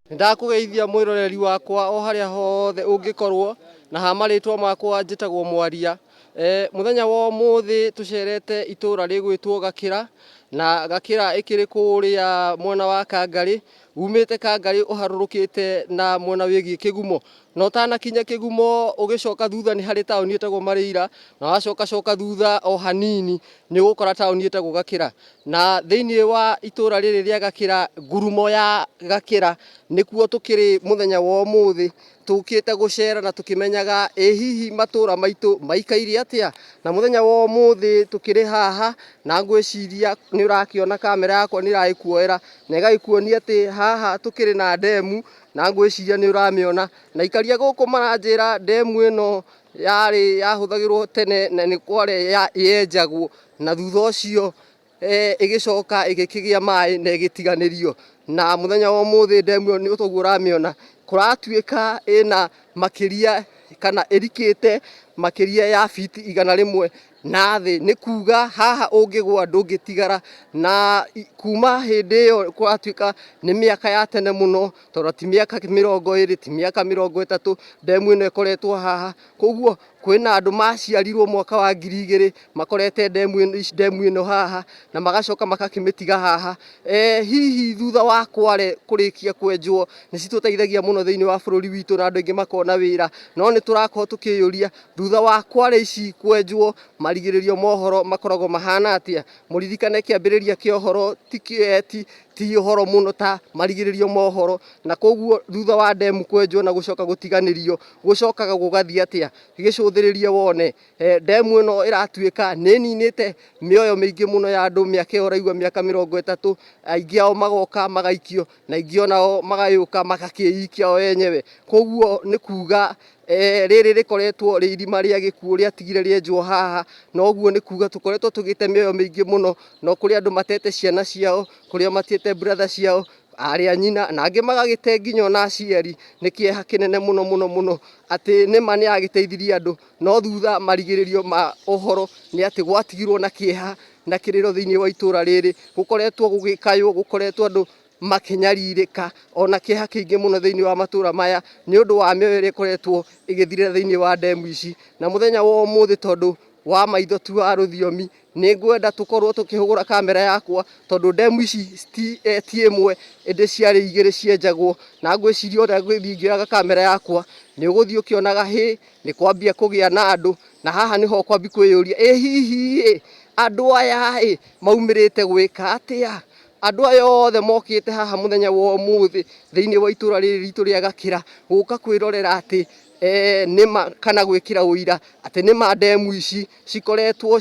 Nĩndakũgeithia mwĩroreri wakwa o harĩa hothe ũngĩkorwo, na ha marĩtwa makwa njĩtagwo Mwaria. E, mũthenya wa ũmũthĩ tũcerete itũũra rĩgwĩtwo Gakĩra, na Gakĩra ĩkĩrĩ kũũrĩa mwena wa Kangarĩ, umĩte Kangarĩ ũharũrũkĩte na mwena wĩgiĩ Kĩgumo. na ũtanakinya kĩgumo ũgĩcoka thutha nĩ harĩ taũni ĩtagwo Marĩira na wacoka coka thutha o hanini nĩ ũgũkora taũni ĩtagwo Gakĩra na thĩinĩ wa itũra rĩrĩ rĩa Gakĩra ngurumo ya Gakĩra nĩkuo tũkĩrĩ mũthenya wa ũmũthĩ tũkĩte gũcera na tũkĩmenyaga ĩ hihi matũra maitũ maikaire atĩa na mũthenya wa ũmũthĩ tũkĩrĩ haha na ngwĩciria nĩ ũrakĩona kamera yakwa nĩ ĩragĩkuoera na ĩgagĩkuonia atĩ haha tũkĩrĩ na ndemu na ngwĩciria nĩ ũramĩona na ikaria gũkũ maranjĩra ndemu ĩno yarĩ yahũthagĩrwo tene na nĩ kwarĩ ya- yenjagwo na thutha ũcio eh, ĩgĩcoka ĩgĩkĩgĩa maĩ na ĩgĩtiganĩrio na mũthenya wa ũmũthĩ ndemu ĩyo nĩ toguo ũramĩona kũratuĩka ĩna makĩria kana ĩrikĩte makĩria ya biti igana rĩmwe Na thĩ, nĩ kuuga haha ũngĩgũa ndũngĩtigara. Na kuma hĩndĩ ĩyo kũratuĩka nĩ mĩaka ya tene mũno, tondũ ti mĩaka mĩrongo ĩrĩ, ti mĩaka mĩrongo ĩtatũ ndemu ĩno ĩkoretwo haha. Koguo kwĩna andũ maciarirwo mwaka wa ngiri igĩrĩ makorete ndemu ĩno haha na magacoka magakĩmĩtiga haha. Hihi thutha wa Kwale kũrĩkia kwenjwo nĩ citũteithagia mũno thĩiniĩ wa bũrũri witũ na andũ aingĩ makona wĩra. No nĩ tũrakorwo tũkĩyũria Thutha wa kware ici kwenjwo, marigĩrĩrio ma ũhoro makoragwo mahana atĩa? Mũririkane kĩambĩrĩria kĩa ũhoro ti kĩ- ti- ti ũhoro mũno ta marigĩrĩrio ma ũhoro, na koguo thutha wa ndemu kwenjwo na gũcoka gũtiganĩrio, gũcokaga gũgathiĩ atĩa? Gĩcũthĩrĩrie wone. Eh, Ndemu ĩno ĩratuĩka nĩ ĩninĩte mĩoyo mĩingĩ mũno ya andũ, mĩaka ĩyo ũraigua mĩaka mĩrongo ĩtatũ, aingĩ ao magoka magaikio. na ingĩ onao magayũka magakĩikia o enyewe. Koguo nĩ kuga e, rĩrĩ rĩkoretwo rĩ irima rĩa gĩkuũ rĩatigire rĩenjwo haha, na ũguo nĩ kuga tũkoretwo tũgĩte mĩoyo mĩingĩ mũno, no kũrĩ andũ matete ciana ciao, kũrĩa matete brother ciao, arĩa nyina na angĩ magagĩte nginya ona aciari nĩ kĩeha kĩnene mũno mũno mũno atĩ nĩma nĩ agĩteithirie andũ no thutha marigĩrĩrio ma ũhoro nĩ atĩ gwatigirwo na kĩeha na kĩrĩro thĩinĩ wa itũra rĩrĩ gũkoretwo gũgĩkaywo gũkoretwo andũ makĩnyarirĩka ona kĩha kĩingĩ mũno thĩinĩ wa matũra maya nĩ ũndũ wa mĩoyo ĩrĩa ĩkoretwo ĩgĩthirĩra thĩinĩ wa ndemu ici na mũthenya wa ũmũthĩ tondũ wa maitho tu wa rũthiomi nĩ ngwenda tũkorwo tũkĩhũgũra kamera yakwa tondũ ndemu ici ti eh, ti ĩmwe ĩndĩ ciarĩ igĩrĩ cienjagwo na ngwĩciria ũrĩa ngwĩthiĩ ngĩoyaga kamera yakwa nĩ ũgũthiĩ ũkĩonaga hĩ Nĩ kwambia kũgĩa na andũ, na haha nĩho ũkwambi kwĩyũria, ĩ hihi-ĩ, andũ aya-ĩ, maumĩrĩte gwĩka atĩa? Andũ aya othe mokĩte haha mũthenya wa ũmũthĩ thĩiniĩ wa itũra rĩrĩ ritũ rĩa Gakĩra, gũka kwĩrorera atĩ nĩma kana gwĩkĩra ũira atĩ nĩma ndemu ici cikoretwo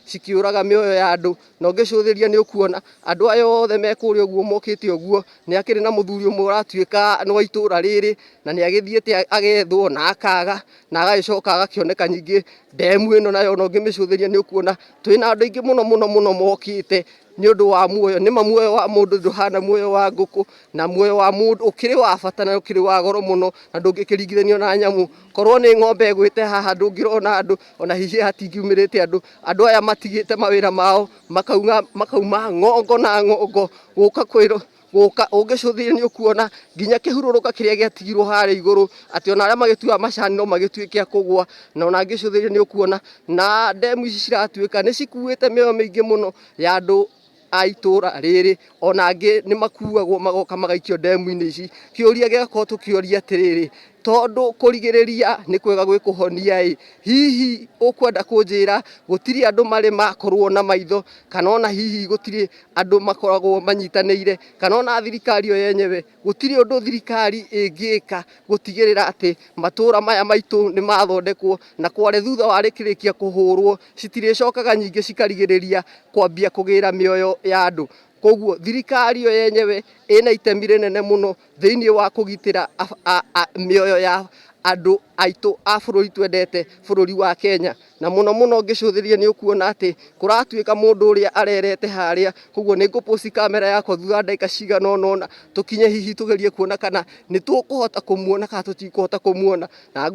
cikĩũraga mĩoyo ya andũ. na ũngĩcũthĩrĩria nĩ ũkuona andũ aya othe me kũrĩa ũguo mokĩte ũguo nĩ akĩrĩ na mũthuri ũmwe ũratuĩka nĩ wa itũra rĩrĩ na nĩ agĩthiĩte agethwo na akaga na agagĩcoka agakĩoneka ningĩ ndemu ĩno nayo na ũngĩmĩcũthĩrĩria nĩ ũkuona twĩ na andũ aingĩ mũno mũno mũno mokĩte nĩ ũndũ wa muoyo nĩma muoyo wa mũndũ ndũhana muoyo wa ngũkũ na muoyo wa mũndũ ũkĩrĩ wa bata na ũkĩrĩ wa goro mũno na ndũngĩkĩringithanio na nyamũ korwo nĩ ng'ombe ĩgwĩte haha ndũngĩrona andũ ona hihi hatingiumĩrĩte andũ andũ aya matigĩte mawĩra mao makaunga makauma ng'ongo na ng'ongo gũka kwĩrwo gũka ũngĩcũthĩrĩria nĩ ũkuona nginya kĩhurũrũka kĩrĩa gĩatigirwo harĩa igũrũ atĩ ona arĩa magĩtuaga macani no magĩtuĩke a kũgwa na ona ngĩcũthĩrĩria nĩ ũkuona na ndemu ici ciratuĩka nĩ cikuĩte mĩoyo mĩingĩ mũno ya andũ a itũra rĩrĩ ona angĩ nĩ makuagwo magoka magaikio ndemu-inĩ ici. Kĩũria gĩgakorwo tũkĩũria atĩrĩrĩ, tondũ kũrigĩrĩria nĩ kwega gwĩ kũhonia-ĩ, hihi ũkwenda kũnjĩra gũtirĩ andũ marĩ makorwo na maitho kana ona hihi gũtirĩ andũ makoragwo manyitanĩire kana ona thirikari yo yenyewe... Gũtirĩ ũndũ thirikari ĩngĩka gũtigĩrĩra atĩ matũũra maya maitũ nĩ mathondekwo na Kwale thutha wa rĩkĩrĩkia kũhũrwo citirĩcokaga nyingĩ cikarigĩrĩria kwambia kũgĩra mĩoyo ya andũ. Kwoguo thirikari yo yenyewe ĩna itemi rĩnene mũno thĩinĩ wa kũgitĩra mĩoyo ya andũ aitũ a bũrũri twendete, bũrũri wa Kenya. Na mũno mũno ngĩcũthĩrĩria nĩ ũkuona atĩ kũratuĩka mũndũ ũrĩa arerete harĩa. Koguo nĩ ngũ post camera yakwa thutha wa ndagĩka cigana ũna ũna, tũkinye hihi tũgerie kuona kana nĩ tũkũhota kũmuona kana tũtikũhota kũmuona. Na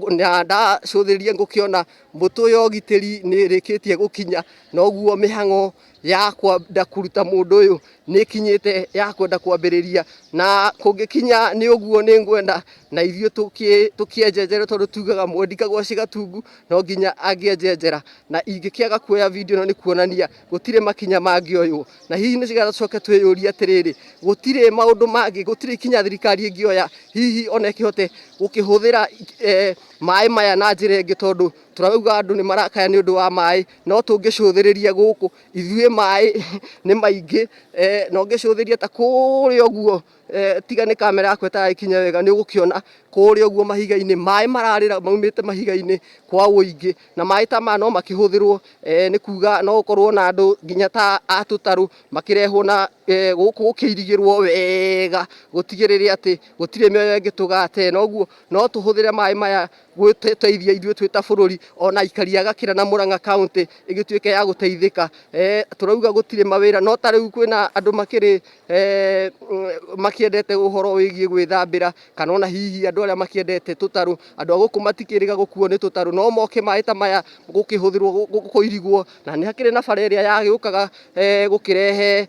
ndacũthĩrĩria ngũkĩona mbũtũ ya ũgitĩri nĩ ĩrĩkĩtie gũkinya, na ũguo mĩhang'o ya kwenda kuruta mũndũ ũyũ nĩ ĩkinyĩte ya kwenda kwambĩrĩria na kũngĩkinya nĩ ũguo nĩ ngwenda na ithuĩ tũkĩ- tũkĩenjenjere tondũ tugaga mũndũ ndikagwa cigatungu no nginya angĩenjenjera na ingĩkĩaga kuoya video ĩno nĩ kuonania gũtirĩ makinya mangĩoywo na hihi nĩ getha tũcoke twĩyũrie atĩrĩrĩ gũtirĩ maũndũ mangĩ gũtirĩ ikinya thirikari ĩngĩoya hihi ona ĩkĩhote gũkĩhũthĩra eh, maĩ maya na njĩra ĩngĩ tondũ Tũrauga andũ nĩ marakaya nĩ ũndũ wa maĩ, no tũngĩcũthĩrĩria gũkũ ithuĩ maĩ nĩ maingĩ, na ũngĩcũthĩrĩria ta kũrĩa ũguo tiga nĩ kamera yakwa ĩtaragĩkinya wega nĩ ũgũkĩona kũrĩa ũguo mahiga-inĩ maĩ mararĩra maumĩte mahiga-inĩ kwa ũingĩ, na maĩ ta maya no makĩhũthĩrwo nĩ kuga no gũkorwo na andũ nginya ta a tũtarũ makĩrehwo na gũkũ gũkĩirigĩrwo wega gũtigĩrĩre atĩ gũtirĩ mĩoyo ĩngĩtũgata ĩno ũguo, no tũhũthĩre maĩ maya. gũteithia ithuĩ twĩ ta bũrũri ona aikari a Gakira na Murang'a kaunti ĩgĩtuĩke ya gũteithĩka eh, tũrauga gũtirĩ mawĩra no ta rĩu kwĩna andũ makĩrĩ eh, makĩendete ũhoro wĩgiĩ gwĩthambĩra kana ona hihi andũ arĩa makĩendete tũtarũ andũ a gũkũ matikĩrĩga gũkuo nĩ tũtarũ no moke maĩ ta maya gũkĩhũthĩrwo kũirigwo na nĩ hakĩrĩ na bara ĩrĩa yagĩũkaga eh, gũkĩrehe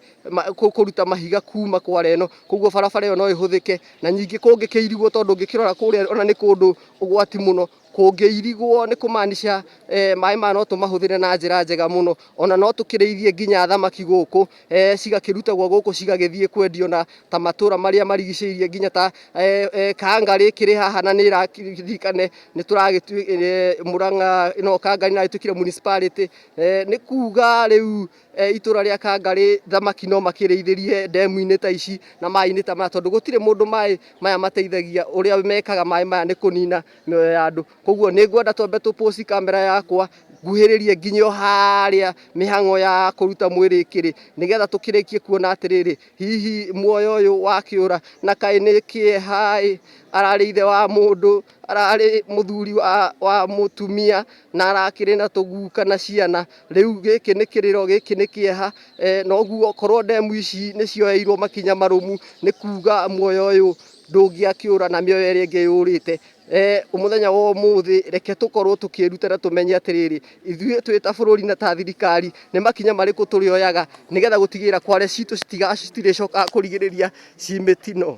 kũruta mahiga kuma kwara ĩno koguo barabara ĩyo no ĩhũthĩke na nyingĩ kũngĩkĩirigwo tondũ ũngĩkĩrora kũrĩa ona nĩ kũndũ ũgwati mũno kũngĩirigwo nĩ kũmaanisha eh, maĩ maya no tũmahũthĩre na njĩra njega mũno ona no tũkĩrĩithie nginya thamaki gũkũ eh, cigakĩrutagwo gũkũ cigagĩthiĩ kwendio na ta matũra marĩa marigicĩirie nginya ta eh, eh, kanga rĩkĩrĩ haha na nĩ ĩraririkane nĩ tũragĩtuĩka eh, mũrang'a no kanga nĩ ĩragĩtuĩkire municipality eh, nĩ kuga rĩu e, itũra rĩa Kangarĩ thamaki no makĩrĩithĩrie ndemu-inĩ ta ici na maĩ-inĩ ta maya tondũ gũtirĩ mũndũ maĩ maya mateithagia ũrĩa mekaga maĩ maya nĩ kũnina mĩoyo ya andũ koguo nĩ ngwenda twambe tũ post kamera yakwa nguhĩrĩrie nginya o harĩa mĩhang'o ya kũruta mwĩrĩ ĩkĩrĩ nĩgetha tũkĩrĩkie kuona atĩrĩrĩ hihi muoyo ũyũ wakĩũra na kaĩ nĩ kĩeha-ĩ ararĩ ithe wa mũndũ ararĩ mũthuri wa, wa mũtumia na arakĩrĩ na tũguka na ciana rĩu gĩkĩ nĩ kĩrĩro gĩkĩ nĩ kĩeha e, noguo korwo ndemu ici nĩ cioeirwo makinya marũmu nĩ kuga muoyo ũyũ ndũngĩakĩũra na mĩoyo ĩrĩa ĩngĩ yũrĩte e, mũthenya wa ũmũthĩ reke tũkorwo tũkĩruta na tũmenye atĩrĩrĩ ithuĩ twĩ ta bũrũri na ta thirikari nĩ makinya marĩkũ tũrĩoyaga nĩgetha gũtigĩrĩra kware citũ citirĩcokaga kũrigĩrĩria ci mĩtino